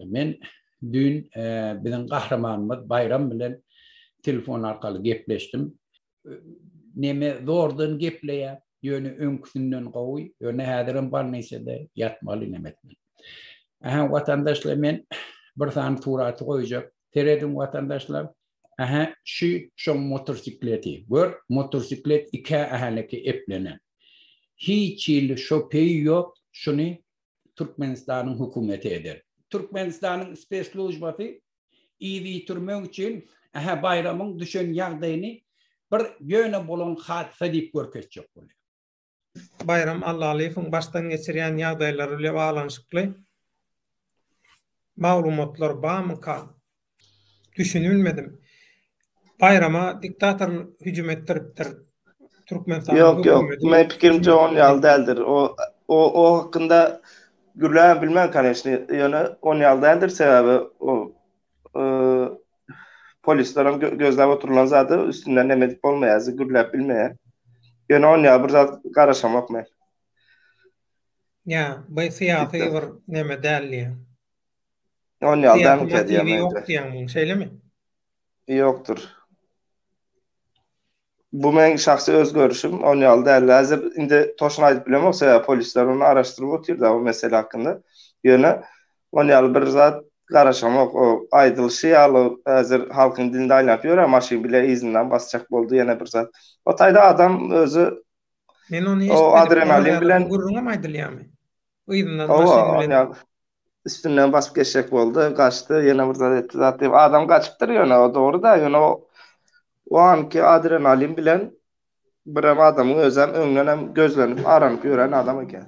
Men düýn biziň gahrymanymyz Baýram bilen telefon arkaly gepleşdim. Neme zordan gepleýär, ýöne öňküsinden gowy, ýöne häzirem bolnisada ýatmaly neme etmeli. Ähä watandaşlar men bir sany suraty goýjak, Serediň watandaşlar. Ähä şü şoň motorsikleti. Gör motorsiklet ikä ähälekä eplenen. Hiç hili şopeý ýok şuny Türkmenistanyň hökümeti eder. Türkmenistanyň spesslujbasy yz ýitirmek üçin ähä baýramyň düşen ýagdaýyny bir ýöne bolan hadysa diýip görkezjek bolýar. Baýram Allalyýewiň başdan geçirýän ýagdaýlary bile baglanyşykly maglumatlar barmyka? Düşünibilmedim. Baýrama diktator hüjüm etdiripdir. Türkmenistanyň Ýok, ýok. hökümeti- Meň pikirimçe on ýaly däldir. O, o, o hakynda gürläbem bilmen, koneçny. Ýöne on ýaly däldir, sebäbi o polisler hem gözläp oturylan zady üstünden näme edip bolmaýar, gürläp bilmeýär. Ýöne on ýa bir zat garaşamok men. Ýa, bu syýasy bir näme däl diýýä. On ýa da ýok diýýäň, şeýlemi? Ýokdur. Bu meň şahsy öz görüşim, ony ýaly däldi. Häzir indi toşun aýdyp bilemok, sebäbi polisler ony araşdyryp otyr-da bu mesele hakynda. Ýöne ony ýaly bir zat garaşamok. O aýdylyşy ýaly häzir halkyň dilinde aýlanyp ýör-ä, maşyn bile yzyndan basjak boldy ýene bir zat. O taýda adam özi Men ony eşitmedim. Ony ýaly bir gürrüňem aýdylýarmy? Yzyndan maşyn bilen. Hawa, ony ýaly. üstünden basyp geçjek boldy, gaçdy, ýene bir zat etdi, zat diýip, adam gaçypdyr ýöne, o dogry-da, ýöne o, o anki adrenalin bilen birem adamyň özem öňdenem gözlenip, aranyp ýören adam eken.